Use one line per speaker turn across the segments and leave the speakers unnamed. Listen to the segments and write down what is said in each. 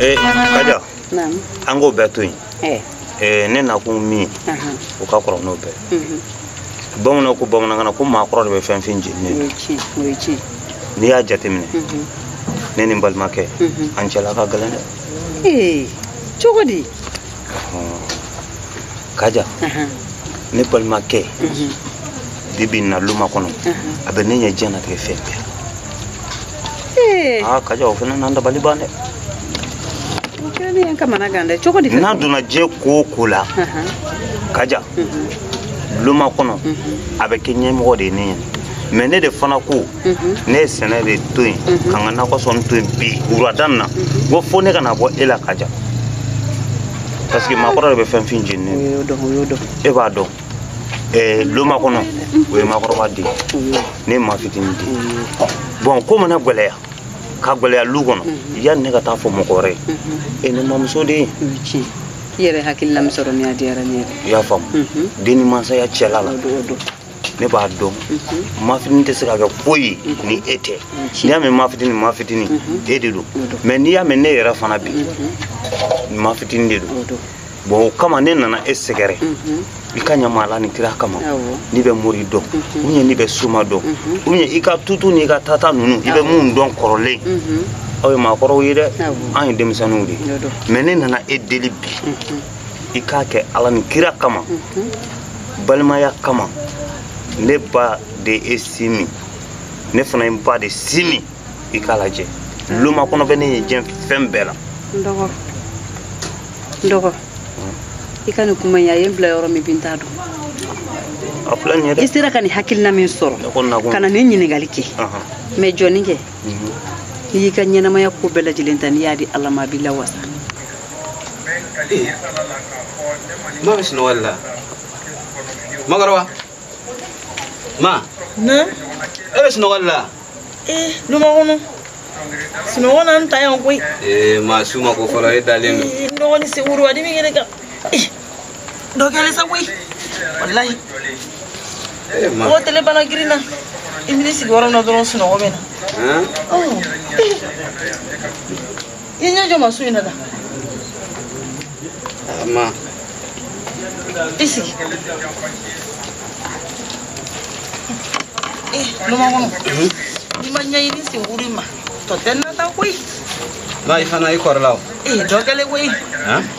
Eh, kaja an k'o bɛɛ to yen eh. eh, ne nakun min ye o ka kɔrɔ n'o bɛɛ mhm. bamananw ko bamanankan na ko maakɔrɔ de bɛ finfin jeni ne n'i y'a jateminɛ mhm. ne ni n balimakɛ mhm. an cɛla ka gɛlɛn dɛ
cogo di
kaja ne balimakɛ bi bi na lumakɔnɔ a bɛ ne ɲɛ diɲɛnatigɛ fɛn bɛɛ la aa kaja o fana n'an dabali ban dɛ n'a donna diɲɛ ko o ko la kaja lumakɔnɔ a bɛ kɛ ɲɛmɔgɔ de ye ne ɲɛ mais ne de fana ko ne ye sɛnɛ de to yen ka n ka nakɔ sɔn to yen bi wulada in na ko fo ne ka na bɔ e la kaja parce que maakɔrɔ de bɛ finfin jeni ne e b'a dɔn eh, lumakɔnɔ o ye maakɔrɔba de ye ne ye maafitini de ye bon ko mana gwɛlɛya ka gwɛlɛya lu kɔnɔ yanni ne ka taa fɔ mɔgɔ wɛrɛ ye e ne mamuso de ye i
yɛrɛ hakilila min sɔrɔ min a diyara ne yɛrɛ i y'a faamu
den ni mansaya cɛla la ne b'a dɔn mafitini tɛ se ka kɛ foyi ni e tɛ n'i y'a mɛn mafitini mafitini e de don mais n'i y'a mɛn ne yɛrɛ fana bi mafitini de don bon o kama ne nana e sɛgɛrɛ i k'a ɲa n ma ala ni kira kama n'i bɛ mori dɔn n ye n'i bɛ soma dɔn n ye i ka tutu n'i ka tata ninnu i bɛ minnu dɔn kɔrɔlen aw ye maakɔrɔw ye dɛ an ye denmisɛnninw de ye mais ne nana e deli bi i k'a kɛ ala ni kira kama balimaya kama ne ba de ye e sin min ne fana ye n ba de sin min i k'a lajɛ lumakɔnɔ bɛ ne ɲɛ diɲɛ fɛn bɛɛ la dɔgɔ
dɔgɔ i ka nin kuma in a ye n bila yɔrɔ min bi n t'a
dɔn a filɛ nin ye dɛ i sera ka nin hakilina min
sɔrɔ ka na nin ɲininkali kɛ mais jɔni kɛ i y'i ka ɲɛnamaya ko bɛɛ lajɛlen ta n'i y'a di ala ma a b'i
lawasa ma bɛ sunɔgɔ la makɔrɔba
ma ne e bɛ sunɔgɔ
la
ee lumakɔnɔ sunɔgɔ na n ta yan koyi ee ma su ma ko
fɔlɔ e dalen don n dɔgɔnin segu
dimi kɛnɛ kan dɔ kɛlen sa koyi walayi mɔgɔ tile bana girinna i bɛ sigi yɔrɔ min na dɔrɔn sunɔgɔ bɛ na i ɲɛ jɔ ma su in na da ma i sigi lumakɔnɔ n'i ma ɲɛɲini sen wuri ma tɔ tɛna taa koyi i fana
i kɔrɔla o ee dɔ kɛlen koyi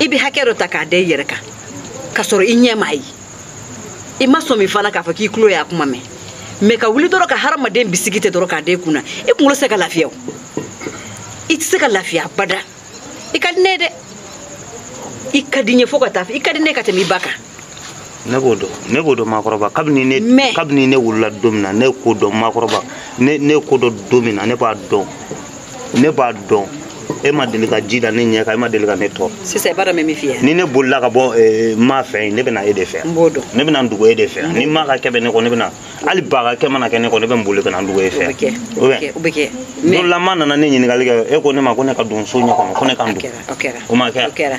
i bɛ hakɛ dɔ ta k'a da i yɛrɛ kan ka sɔrɔ i ɲɛ m'a ye i ma sɔmi fana k'a fɔ k'i tulo y'a kuma mɛn mais ka wuli dɔrɔn ka hadamaden bisigi ten dɔrɔn k'a da i kun na i kunkolo tɛ se ka lafiya o i tɛ se ka lafiya abada i ka di ne ye dɛ i ka di n ye fo ka taa fɔ i ka di ne ye ka tɛmɛ i ba kan ne b'o dɔn ne b'o dɔn maakɔrɔba kabini ne Mais- kabini ne wulila don min na ne ko dɔn maakɔrɔba ne ne ko dɔn don min na ne b'a dɔn ne b'a dɔn e ma
deli ka ji da ne ɲɛ kan e ma deli ka ne tɔɔrɔ sisan i b'a dɔn n bɛ min f'i ye
ni ne bolila ka
bɔ eh, ma fɛ yen ne bɛna e de fɛ n b'o dɔn ne bɛna n dogo
e de
fɛ ni ma ka kɛ bɛ ne kɔ ne bɛna hali ba ka kɛ mana kɛ ne kɔ ne bɛ n boli ka na n dogo e fɛ bɛ kɛ o bɛ kɛ o bɛ
kɛ don dɔ la ma nana ne
ɲininkali kɛ e ko ne ma ko ne ka don so in kɔnɔ ko ne ka n dogo kɛra o kɛra o ma kɛ o kɛra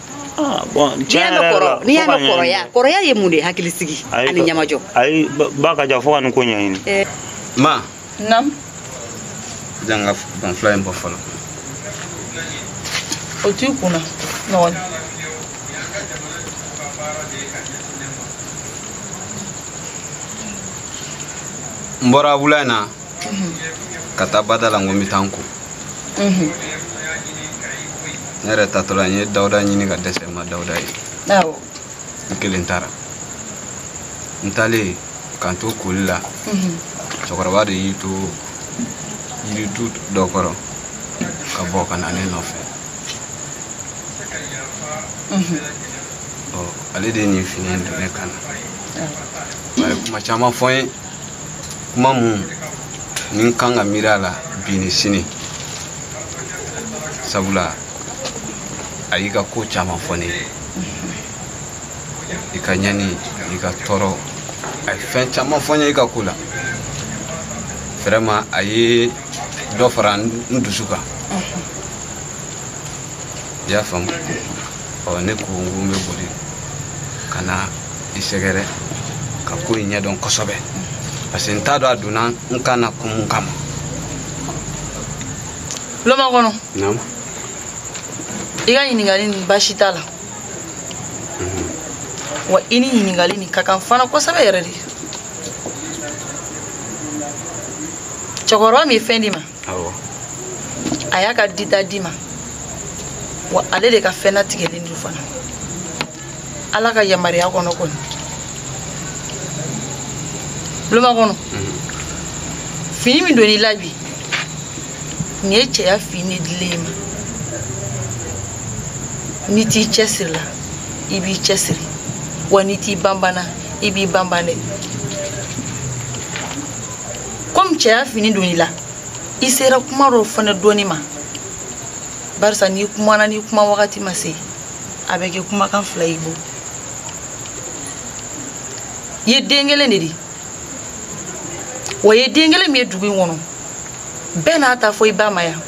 Ah, n'i y'a mɛn kɔrɔ n'i y'a mɛn kɔrɔya kɔrɔya ye mun de ye hakili sigi ani ɲɛmajɔ ayi ba ka
jan fo ka nin ko ɲɛɲini eh. ma
naamu jan ka banfula in bɔ fɔlɔ
o t'i kunna
non n bɔra wula in na ka taa bada la n ko n bɛ taa n ko ne yɛrɛ taatɔ la n ye dawuda ɲini ka dɛsɛ n ma dawuda ye
n kelen
taara n taalen ka n to koli la cɛkɔrɔba de y'i to yiritu dɔ kɔrɔ ka bɔ ka na ne nɔfɛ ale de ye nin fini don ne kan na a ye kuma caman fɔ n ye kuma minnu n kan ka miiri a la bi ni sini sabula a y'i ka ko caman fɔ ne ye i ka ɲani i ka tɔɔrɔ a ye fɛn caman fɔ n ye i ka ko la vraiment a ye dɔ fara n dusu kan i y'a faamu ɔ ne ko n ko n bɛ boli ka na i sɛgɛrɛ ka ko in ɲɛdɔn kosɛbɛ parce que n t'a dɔn a donna n kan na kun mun kama
loma kɔnɔ naamu i ka ɲininkali nin baasi t'a la wa i ni ɲininkali nin ka kan fana kosɛbɛ yɛrɛ de cɛkɔrɔba min ye fɛn d'i ma a y'a ka dita d'i ma wa ale de ka fɛn latigɛlen don fana ala ka yamaruya kɔnɔ kɔni buloma kɔnɔ fini min donn'i la bi nin ye cɛya fini dilen y'i ma n'i t'i cɛsiri la i b'i cɛsiri wa n'i t'i banban na i b'i banban dɛ comme cɛya fini donn'i la i sera kuma dɔ fana dɔɔni ma barisa n'i kumana n'i kuma wagati ma se a bɛ kɛ kumakan fila y'i bolo i ye den kelen de di wa i ye den kelen min ye dugu in kɔnɔ bɛɛ n'a ta fɔ i ba ma yan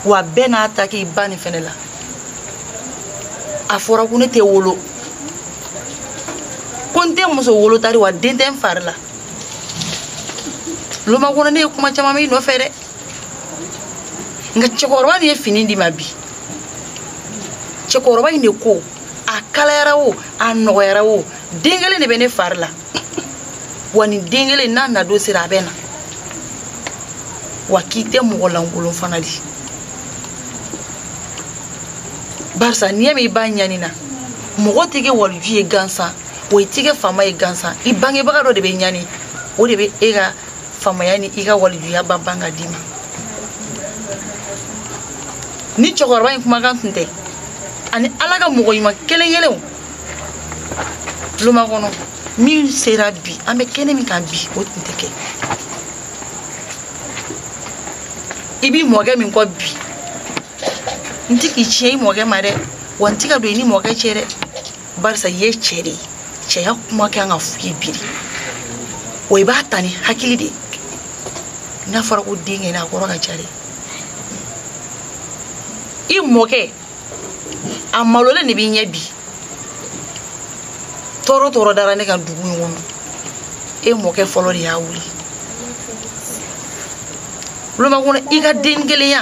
wa bɛɛ n'a ta k'i ba nin fɛnɛ la a fɔra ko ne tɛ wolo ko n tɛ muso wolo tari wa den tɛ n fari la loma kɔnɔ ne ye kuma caman mɛn i nɔfɛ dɛ nka cɛkɔrɔba min ye fini d'i ma bi cɛkɔrɔba in de ko a kalayara o a nɔgɔyara o den kelen de bɛ ne fari la wa nin den kelen n'a nadon sera a bɛ na wa k'i tɛ mɔgɔ lankolon fana di barisa n'i y'a mɛn i ba ɲanina mɔgɔ tɛ kɛ waliju ye gansan wa i tɛ kɛ faama ye gansan i bangebaga dɔ de bɛ ɲani o de bɛ e ka faamaya ni i ka walijuya ba ban ka d'i ma ni cɛkɔrɔba in kumakan tun tɛ ani ala ka mɔgɔ ɲuman kelen kelenw loma kɔnɔ min sera bi an bɛ kɛnɛ min kan bi o tun tɛ kɛ i b'i mɔkɛ min kɔ bi n tɛ k'i tiɲɛ i mɔkɛ ma dɛ wa n tɛ ka don i ni mɔkɛ cɛ dɛ barisa i ye cɛ de ye cɛya kuma kan ka f'i ye bi de wa i b'a ta ni hakili de n'a fɔra ko den kɛ n'a kɔrɔ ka ca dɛ i mɔkɛ a malolen de b'i ɲɛ bi tɔɔrɔ tɔɔrɔ dara ne ka dugu in kɔnɔ e mɔkɛ fɔlɔ de y'a wuli loma kɔnɔ i ka den kelenya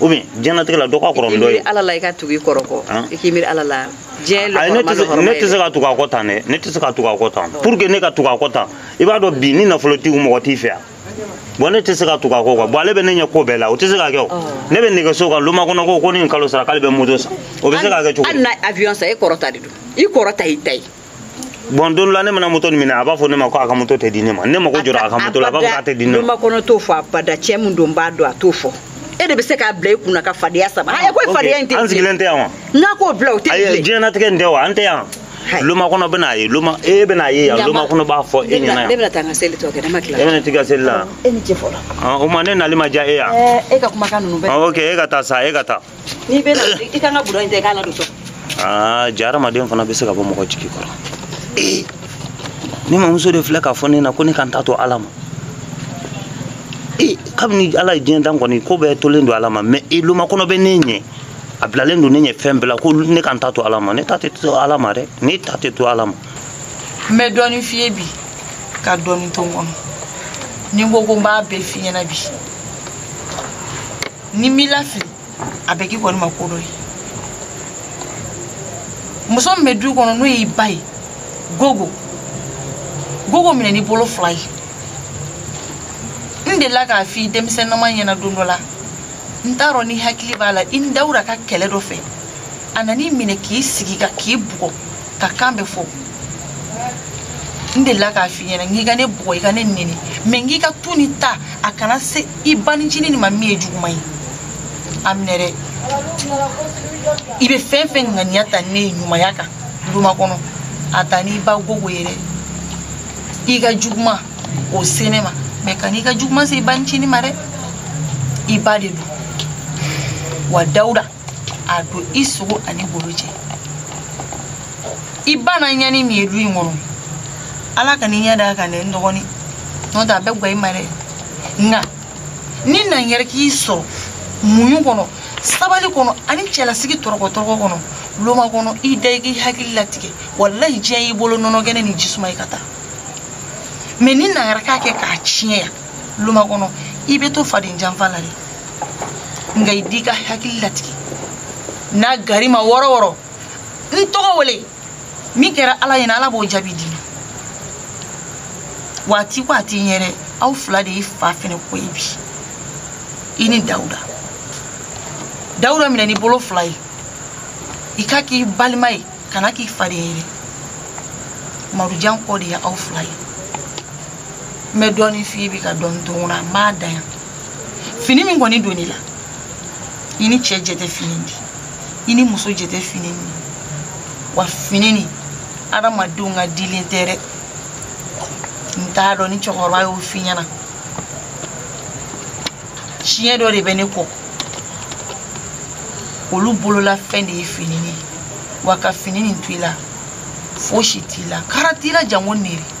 ou bien diɲɛnatigɛ la dɔ ka kɔrɔ ni dɔ ye ala la i ka tugu i kɔrɔ
kɔ i k'i miiri ala la diɲɛ lɔgɔrɔma ne tɛ se ka
tugu a kɔ tan dɛ ne tɛ se ka tugu a kɔ tan pour que ne ka tugu a kɔ tan i b'a dɔn bi ni nafolo t'i kun mɔgɔ t'i fɛ yan bon ne tɛ se ka tugu a kɔ quoi bon ale bɛ ne ɲɛ ko bɛɛ la o tɛ se ka kɛ o ne bɛ nɛgɛso kan loma kɔnɔ ko ko ni nin kalo sara k'ale bɛ moto san o bɛ se ka kɛ cogo hali n'a avion san e kɔrɔ
ta de don i kɔrɔ ta y'i ta ye bon don
la ne mana moto nin minɛ a b'a fɔ ne ma ko a ka moto tɛ di ne ma ne mago jɔra a ka moto la a b'a fɔ k'a tɛ di ne ma loma kɔnɔ t'o fɔ abada
cɛ min don b'a dɔn a t'o fɔ e de bɛ se k'a bila i kunna ka fadenya sama ayi ko fadenya in tɛ an sigilen tɛ yan wa n'a
k'o bila o tɛ
bilen diɲɛnatigɛ in tɛ
wa an tɛ yan loma kɔnɔ bɛna a ye loma e bɛna a ye yan loma kɔnɔ b'a fɔ e ɲɛna yan ne bɛna taa n ka seli tɔ kɛ ne
ma tila e bɛna t'i ka seli la e ni cɛ
fɔlɔ
o ma ne nali
ma
diya e
yan e ka kumakan
ninnu bɛɛ ok e ka taa sa e ka
taa n'i bɛ na
i ka n ka budɔ in ta i k'a ladon so aa
jaa hadamaden fana bɛ se ka bɔ mɔgɔ jigi kɔrɔ ee ne mamuso de filɛ k'a fɔ ne na ko ne ka n ta to ala ma ee kabini ala ye diɲɛ dan kɔni ko bɛɛ tolen don ala ma mɛ e loma kɔnɔ bɛ ne ɲɛ a bilalen don ne ɲɛ fɛn bɛɛ la ko ne ka n ta to ala ma ne ta tɛ to ala ma dɛ ne ta tɛ to ala ma n bɛ
dɔɔnin f'i ye bi ka dɔɔnin to n kɔnɔ ni n ko ko n b'a bɛɛ f'i ɲɛna bi ni m'i lafili a bɛ k'i kɔni ma ko dɔ ye muso min bɛ du kɔnɔ n'o y'i ba ye gogo gogo minɛ n'i bolo fila ye n delila k'a f'i denmisɛnnama ɲɛna don dɔ la n t'a dɔn n'i hakili b'a la i ni dawuda ka kɛlɛ dɔ fɛ a nan'i minɛ k'i sigi ka k'i bugɔ ka kan bɛ fɔ n delila k'a f'i ɲɛna n k'i ka ne bugɔ i ka ne neni mɛ n k'i k'a to ne ta a kana se i ba ncinin nin ma min ye juguman ye a minɛ dɛ i bɛ fɛn fɛn ŋaniya ta ne ye ɲumanya kan loma kɔnɔ a ta n'i ba gogo ye dɛ i ka juguman o se ne ma mɛ kan'i ka juguman se i ba ncinin ma dɛ i ba de don wa dawuda a don i sogo an'i golo cɛ i ba na ɲani min ye du in kɔnɔ ala kan'i ɲɛ d'a kan dɛ n dɔgɔnin n'o tɛ a bɛ gwa i ma dɛ nka ni na yɛrɛ k'i sɔrɔ muɲu kɔnɔ sabali kɔnɔ ani cɛlasigi tɔrɔkɔtɔrɔkɔ kɔnɔ loma kɔnɔ i da i k'i hakili latigɛ walahi diɲɛ y'i bolo nɔnɔkɛnɛ ni jisuma ye ka taa mɛ ni na yɛrɛ k'a kɛ k'a tiɲɛ yan loma kɔnɔ i bɛ to faden janfa la dɛ nka i di ka hakili latigɛ n'a gwar'i ma yɔrɔ yɔrɔ n tɔgɔ wele min kɛra ala ɲɛna ala b'o jaabi di waati waati n yɛrɛ aw fila de ye fa fɛnɛ kɔ ye bi i ni dawuda dawuda minɛ n'i bolo fila ye i k'a k'i balima ye kan'a k'i faden ye dɛ marujan kɔ de ye aw fila ye n bɛ dɔɔnin f'i ye bi ka dɔɔnin to n kɔnɔ a m'a dan yan fini min kɔni donn'i la i ni cɛ jɛ tɛ fini di i ni muso jɛ tɛ fini di wa fini nin adamadenw ka dilen tɛ dɛ n t'a dɔn ni cɛkɔrɔba y'o f'i ɲɛna siya dɔ de bɛ ne kɔ olu bolola fɛn de ye fini ye wa ka fini nin to i la fosi t'i la kara t'i la janko nere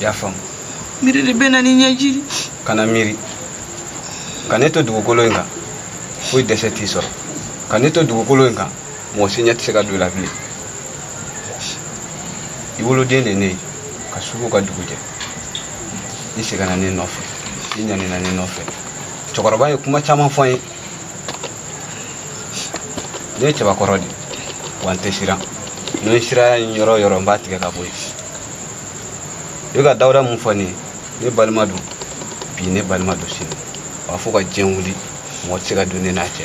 i y'a faamu
miiri de bɛ na ni ɲɛji di kana
miiri ka ne to dugukolo in kan foyi dɛsɛ t'i sɔrɔ ka ne to dugukolo in kan mɔgɔ si ɲɛ tɛ se ka don i la bilen i woloden de ne ye ka su ko ka dugu jɛ i sɛgɛnna ne nɔfɛ i ɲanina ne nɔfɛ cɛkɔrɔba ye kuma caman fɔ n ye ne ye cɛbakɔrɔ de ye wa n tɛ siran ni n ye siranya ye n yɔrɔ o yɔrɔ n b'a tigɛ ka bɔ yen i bɛ ka dawuda mun fɔ ne ye ne balima don bi ne balima don sini wa fo ka diɲɛ wuli mɔgɔ tɛ se ka don ne n'a cɛ